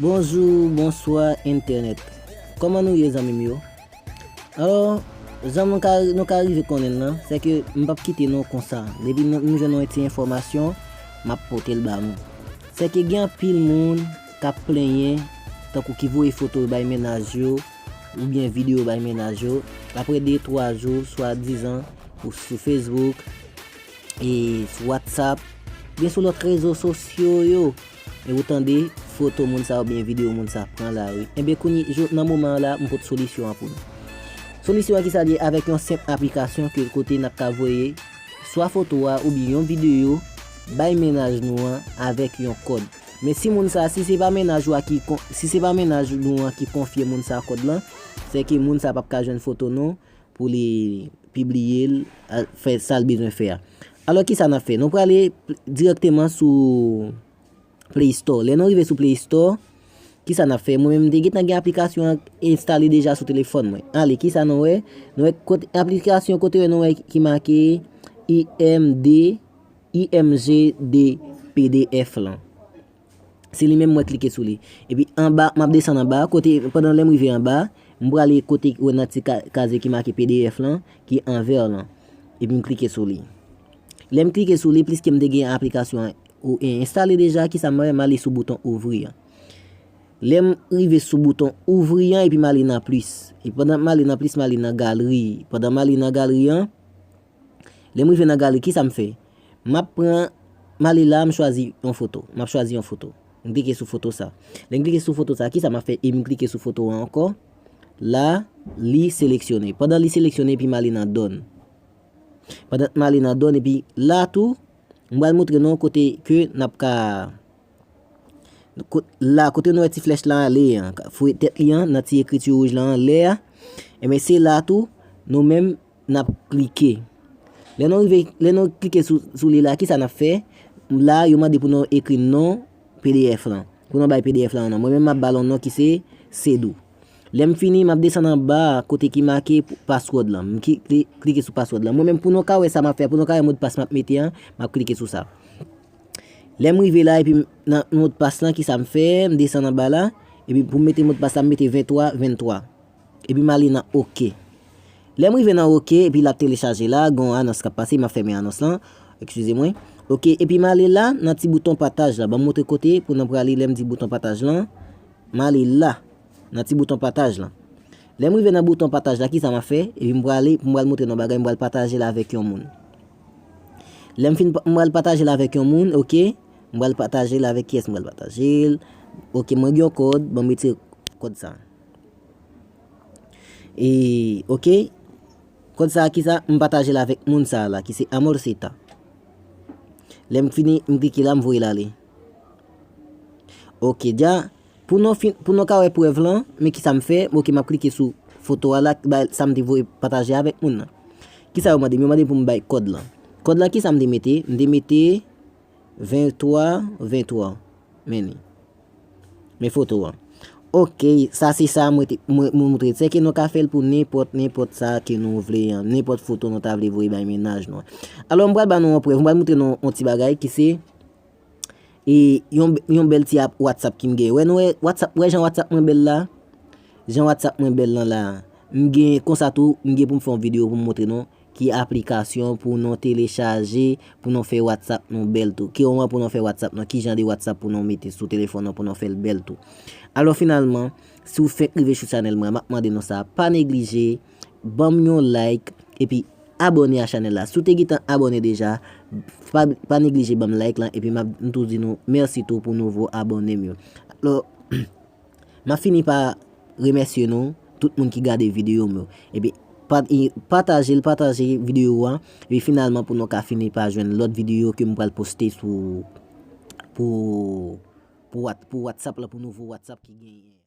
Bonjou bonswa entènèt kòman nou ye zanmim yo alò jan nou ka nou ka rive konnenl lan se ke m pap kite nou konsa depi m jwenn yon ti enfòmasyon map potel ba nou se ke gen anpil moun kap plenyen tankou ki voye foto yo bay mennaj yo oubyen video bay mennaj yo aprè de twa jou swa dizan ou sou facebook e sou whatsapp oubyen sou lòt rezo sosyo yo. E ou tande, foto moun sa oubyen video moun sa pran la wi. Enben kounye, jo, nan moman an la, m pot solisyon an pou nou. Solisyon an ki sa li ye, avèk yon senp aplikasyon ke kote n ap ka voye swa foto a oubyen yon video bay mennaj nou an avèk yon kòd. Men si moun sa, si se pa mennaj ou a ki kon, si se pa mennaj nou an ki konfye moun sa kòd lan, sè ke moun sa p ap ka jwenn foto nou, pou li pibliye l, fè sa l bezwen fè a. Alò kisa n ap fè? Nou prale dirèkteman sou Play Store. Lè nou rive sou Play Store, kisa n ap fè? Mwen menm m te gentan gen aplikasyon an enstale deja sou telefòn mwen. Ale, kisa nou wè? Nou wè kot aplikasyon kote wè nou wè ki make IMG DPDF lan. Se li menm mwen klike sou li. Epi anba, m ap desann anba, kote, pandan lè m rive anba, m prale kote ou wè nan ti kazye ki make pdf lan, ki an vè lan. Epi m klike sou li. Lè m klike sou li, pliske m te gen aplikasyon an ou e enstale deja, ki sa m wè, m ale sou bouton ouvri an. Lè m rive sou bouton ouvri an, epi m ale nan plis. Epi pandan m ale nan plis, m ale nan galri. Pandan m ale nan galri an, Lè m rive nan galeri kisa m fè? M ap pran, m ale la m chwazi yon foto, m ap chwazi yon foto. M klike sou foto sa. Lè m klike sou foto sa kisa m ap fè e m klike sou foto an ankò? La li seleksyone. Pandan li seleksyone epi m ale nan done. Pandan m ale nan done epi la tou m pral montre nou kote ke n ap ka la kote nou wè ti flèch lan ale an, fouye tèt li an nan ti ekriti wouj lan anlè a, enben se la tou nou menm N ap klike. Lè nou rive, lè nou klike sou li la, ki sa n ap fè? La, yo mande pou nou ekri non pdf lan. Pou nou bay pdf lan yon non. Mwen menm m ap ba l yon non ki se Sedou. Lè m fini, m ap desann anba a kote ki make password lan. M klike sou password lan. Mwen menm pou nou ka wè sa m ap fè, pou nou ka wè modpas m ap mete an, m ap klike sou sa. Lè m rive la, epi nan modpas lan, ki sa m fè? M desann anba la. Epi pou m mete modpas la, m mete 23, 23. Epi m ale nan ok. Lè m rive nan ok epi l ap telechaje la, gen yon anons k ap pase, m ap fèmen anons lan, ekskize mwen. Ok, epi m ale la nan ti bouton pataj la. Ban m montre kote pou nou prale lè m di bouton pataj lan. M ale la, nan ti bouton pataj lan. Lè m rive nan bouton pataj la, ki sa m ap fè? Epi m prale, m pral montre nou yon bagay, m pral pataje l avèk yon moun. Lè m fin, m pral pataje l avèk yon moun, ok. M pral pataje l avèk kiyès m pral pataje l? Ok, mwen gen yon kòd, ban m retire kòd sa a. E ok Kòd sa ki sa m pataje l avèk moun sa la ki se Amorceta Lè m fini m klike la m voye l ale Ok dja Pou nou fin pou nou ka wè prèv lan men ki sa m fè ok m ap klike sou foto a la ki bay sa m te voye pataje avèk moun nan Ki sa yo mande m yo mande m pou m bay kòd lan Kòd lan ki sa m te mete m te mete 23 23 men ni. Men foto an. Ok, sa se sa mwen moutre. Tsè ke nou ka fèl pou nenpòt, nenpòt sa ke nou vle an. Nenpòt foto nou ta vle voye bay menaj nou an. Alò, mwen pral ban nou yon prèv. Mwen pral moutre nou yon ti bagay ki se e yon bèl ti ap WhatsApp ki m gen. Wè nou wè WhatsApp, wè jan WhatsApp mwen bèl la? Jan WhatsApp mwen bèl lan la. M gen konsa tou, m gen pou m fè yon video pou m moutre nou. Ki aplikasyon pou nou telechaje pou nou fè WhatsApp nou bèl tou? Ki oman pou nou fè WhatsApp nou? Ki jan de WhatsApp pou nou mete sou telefòn nou pou nou fèl bèl tou? Alò finalman, si ou fèk rive sou chanèl mwen, map mande nou sa, pa neglije banm yon like epi abòne a chanèl la. Si ou te gentan abòne deja, pa neglije banm like lan epi map m tou di nou mèsi tou pou nouvo abònem yo. Map fini pa remèsye nou tout moun ki gade videyo m yo epi patajel pataje videyo a epi finalman pou nou ka fini pa jwenn lòt videyo ke m pral poste sou pou watsap la pou nouvo watsap ki genyen.